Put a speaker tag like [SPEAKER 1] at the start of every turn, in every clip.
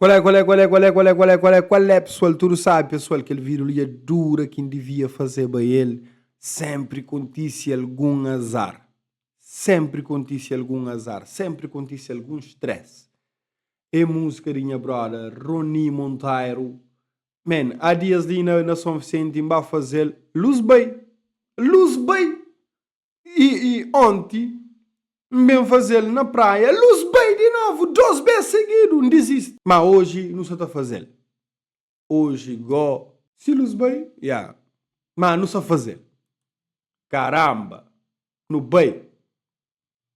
[SPEAKER 1] Kual é, kual é, kual é, kual é, kual é, kual é, kual é, kual é, pesual? Tudu sabe, pesual, kel vida li é dura, kin divia fazeba el, senpri kontise algun azar, senpri kontise algun azar, senpri kontise algun stress. É músika di nha broda Rony Monteiro. Man, há dias li na São Vicente, n ba fazel, luz bai, luz bai! i i onti N ben faze-l na praia Lus bai di novu dos bes segidu N dizisti ma oji nu sa ta faze-l Oji go. Si lus bai ya ma nu sa faze-l Karanba nu bai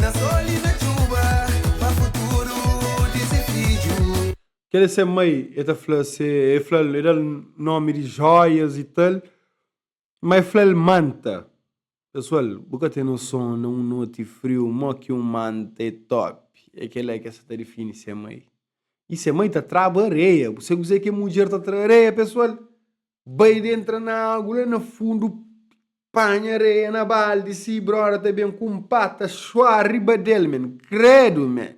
[SPEAKER 1] Na sol y na txuba pa futuru di se fidju. Kel é se mai, el ta fla se, el fla-l, el da-l nómi di jóias y tal, má el fla-l manta. Pesoal, bu ka ten noson na un noti friu mó ki un manta é tópi, é kel-la ki el sta ta difini se mai. Y se mai ta traba areia, bu sai kuzê ki kel mudjer ta tra areia pesoal? Bai di entra na agu la na fundu Panha areia na baldi Si broda ta ben ku un pata Xua riba del men Kredu men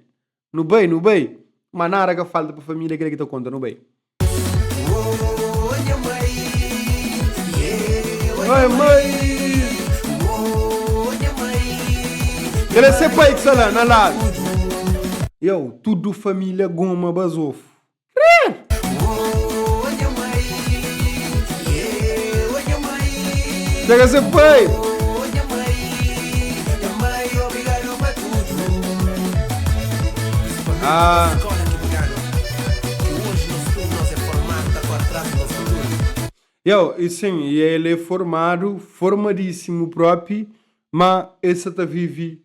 [SPEAKER 1] Nu bai nu bai Ma nada ka falta pa família Kel ki ta konta nu bai Oi mai Kel é se pai ki sta la na ladu Yow tudu família goma bazofu Krer! Chega se pai! Ah. Yow, e sim, e el é formadu, formadísimu própi, má el sa ta vive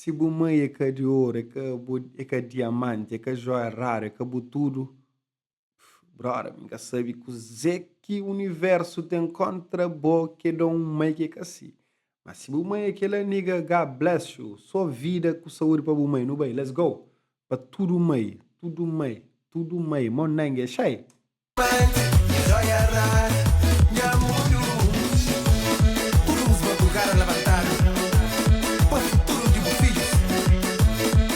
[SPEAKER 1] Si bu mai é ka di oru, é ka bu, é ka diamante, é ka jóia raru, é ka bu tudu, Brother, mi ka sabe kuzê ki universo tem contra bo que dá um mãe que ka si. Mas se bu mãe é kela nigga, God bless you. Só vida ku saúde pa bu mãe. Nu bai, let's go! Pa tudo mãe, tudo mãe, tudo mãe, mó nangue xai!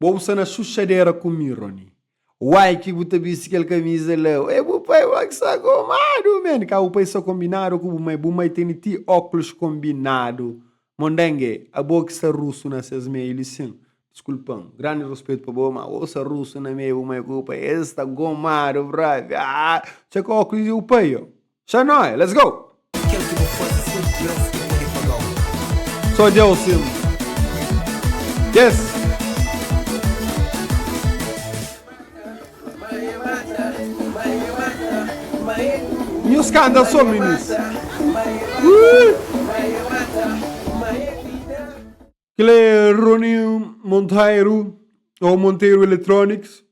[SPEAKER 1] Bo bu sta na xuxadera ku mi Rony. Uai ki bu ta bisti kel kamiza la? Ué bu pai bo ki sa gomadu man. Ka bu pai sa kombinadu ku bu mai, bu mai tene ti óklus kombinadu. Mondenge, abo ki sta rusu na ses meiu li sin? Diskulpa-m, grandi ruspetu pa bo ma bo sta rusu na meiu bu mai ku bu pai. Es sta gomadu bravi. Aa! Txeka óklus di bu pai. Xa noi, let's go! Kel ki bu faze sim Deus ki pode pagau. Só Deus sim Yes! Nhu skandal so minis. Kel é Rony Monteiro ou Monteiro Electronics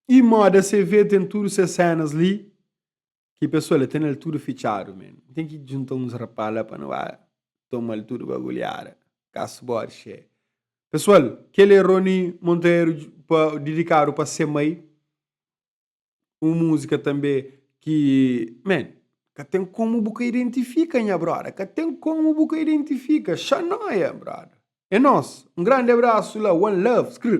[SPEAKER 1] e Moda CV tem tudo ses cenas li. Ki pessoa la tenel tudo fitxadu men tem ki djunta uns rapaz la pa no ba tomal tudo bagulhada caso body xé pessoal kel é Rony Monteiro pa dedicado pa se mai um musica tambe ki men ka tem como bu ka identifica nha brother ka tem como bu ka identifica xa noia brother é nos um grande abraço la one love skr.